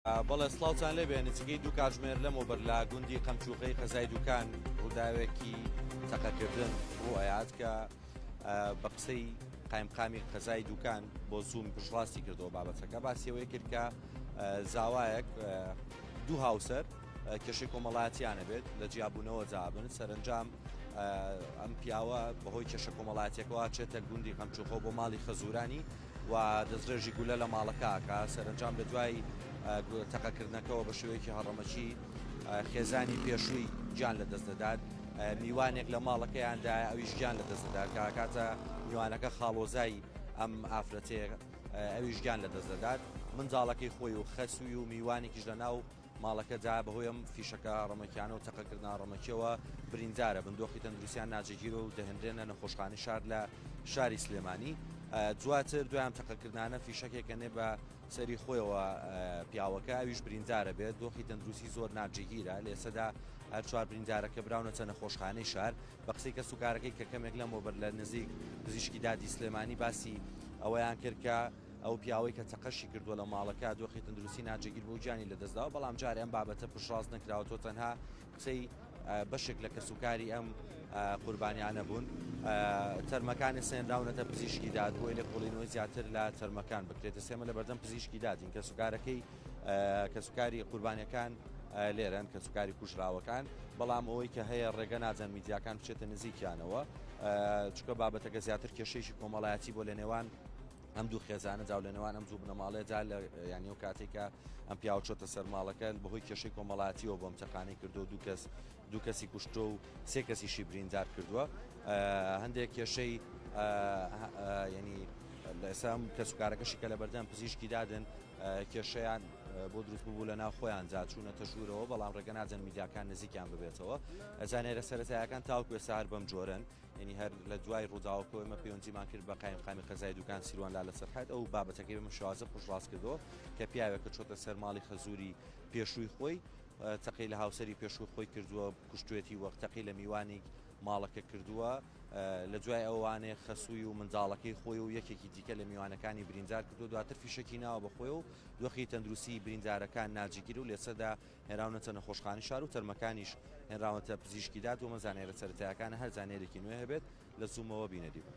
بەڵێ سڵاوتان لێبێ نزیکەی دوو کاتژمێر لەمەوبەر لە گوندی قەمچوخەی قەزای دوکان ڕووداوێکی تەقەکردن ڕووئەیات کە بە قسەی قایمقامی قەزای دوکان بۆ زووم پشتڕاستی کردەوە بابەتەکە باسیەوەی کرد کە زاوایەک دوو هاوسەر کێشەی کۆمەڵاتیانە بێت لە جیاببوونەوە جابن سەرنجام ئەم پیاوە بەهۆی کێشە کۆمەڵاتیەکەەوە چێتە گوندی قەمچوخۆ بۆ ماڵی خەزورانی و دەستڕێژی گولە لە ماڵەکە ئەکا، سەرەنجام لە دوای تەقەکردنەکەوە بە شێوەیەکی هەڕەمەکی خێزانی پێشووی گیان لە دەست دەدات، میوانێک لە ماڵەکەیاندایە ئەویش گیان لە دەست دەدات، کە ئەکاتە میوانەکە خاڵۆزای ئەم ئافرەتەیە ئەویش گیان لە دەست دەدات، منداڵەکەی خۆی و خەسووی و میوانێکیش لە ناو. ماڵەکە جا بەهۆی ئەم فیشەکە ڕەمەکیانە و تەقەکردنا ڕەمەکیەوە بریندارە بن دۆخی تەندروسیان ناجێگیرە و دەهێنرێنە نەخۆشخانی شار لە شاری سلێمانی دواتر دویان تەقەکردانە فیشەکێکە نێ بە سەری خۆیەوە پیاوەکە ئەویش بریندارە بێت دۆخی تەندروستی زۆر ناجێگیرە لێسەدا هەر چوار بریندارەکە براونەتە نەخۆشخانەی شار بە قسەی کە سوکارەکەی کە کەمێک لەمەوە بەر لە نزیک پزیشکی دادی سلێمانی باسی ئەوەیان کرد کە ئەو پیاوەی کە چەقەشی کردووە لە ماڵەکە دۆخی تەندروستی ناجێگیر بوو گیانی لەدەستداوە، بەڵام جارێ ئەم بابەتە پشتڕاست نەکراوە، تۆ تەنها کچەی بەشێک لە کەسوکاری ئەم قوربانیانە بوون. تەرمەکانت سەنراونەتە پزیشکی داد بۆی لێکۆڵینەوەی زیاتر لە تەرمەکان بکرێتە سێمە لە بەردەم پزیشکی دادین کەسوکارەکەی کەسوکاری قوربانەکان لێرەن کە سوکاری کوژراوەکان بەڵام ئەوەی کە هەیە ڕێگە نادەن میدیاکان بچێتە نزیکیانەوە چکە بابەتەکە زیاتر کێشەیەکی کۆمەڵایەتی بۆ لە نێوان ئەم دوو خێزانە جاو لە نێوان ئەم دوو بنەماڵەیە جا لە یان نێو کاتێک کە ئەم پیاو چۆتە سەرماڵەکە بەهۆی کێشەی کۆمەڵاتیەوە بۆم چەقانی کردو دوو کەس دوو کەسی کوشتۆ و سێ کەسیشی بریندار کردووە هەندێک کێشەی ینی لەسام کەسوکارەکەشی کە لە بەردەم پزیشکی دادن کێشیان بۆ دروست ببوو لە ناو خۆیان جاچوونە تەژوورەوە بەڵام ڕێگە ناجەن میدیاکان نزیکیان ببێتەوە زانێرە سەرەتایەکان تاوکوێ سار بەم جۆرن یعنی هەر لە دوای ڕووداوەکەوە ئمە پەیوەندیمان کرد بە قایم قامی قەزای دوکان سیروان لا لە سەرحەت ئەو بابەتەکەی بەمە شوازە پشڕاست کردەوە کە پیاوێکە چۆتە سەر ماڵی خەزووری پێشووی خۆی تەقی لە هاوسری پێشوو خۆی کردووە کوشتێتی وەخت تەقی لە میوانی ماڵەکە کردووە لە دوای ئەوانێ خەسووی و منداڵەکەی خۆی و یەکێکی دیکە لە میوانەکانی بریندار کردو دواتر فیشەکی ناوە بەخۆی و دۆخی تەندروستی بریندارەکان ناجیگیر و لێسەدا هێنراونەتە نەخۆشخانەی شار و تەرمەکانیش هێنراونەتە پزیشکی داد، وەمە زانیارە سەرەتایەکانە، هەر زانیاریکی نوێ هەبێت لە زوومەوە بینەری بن.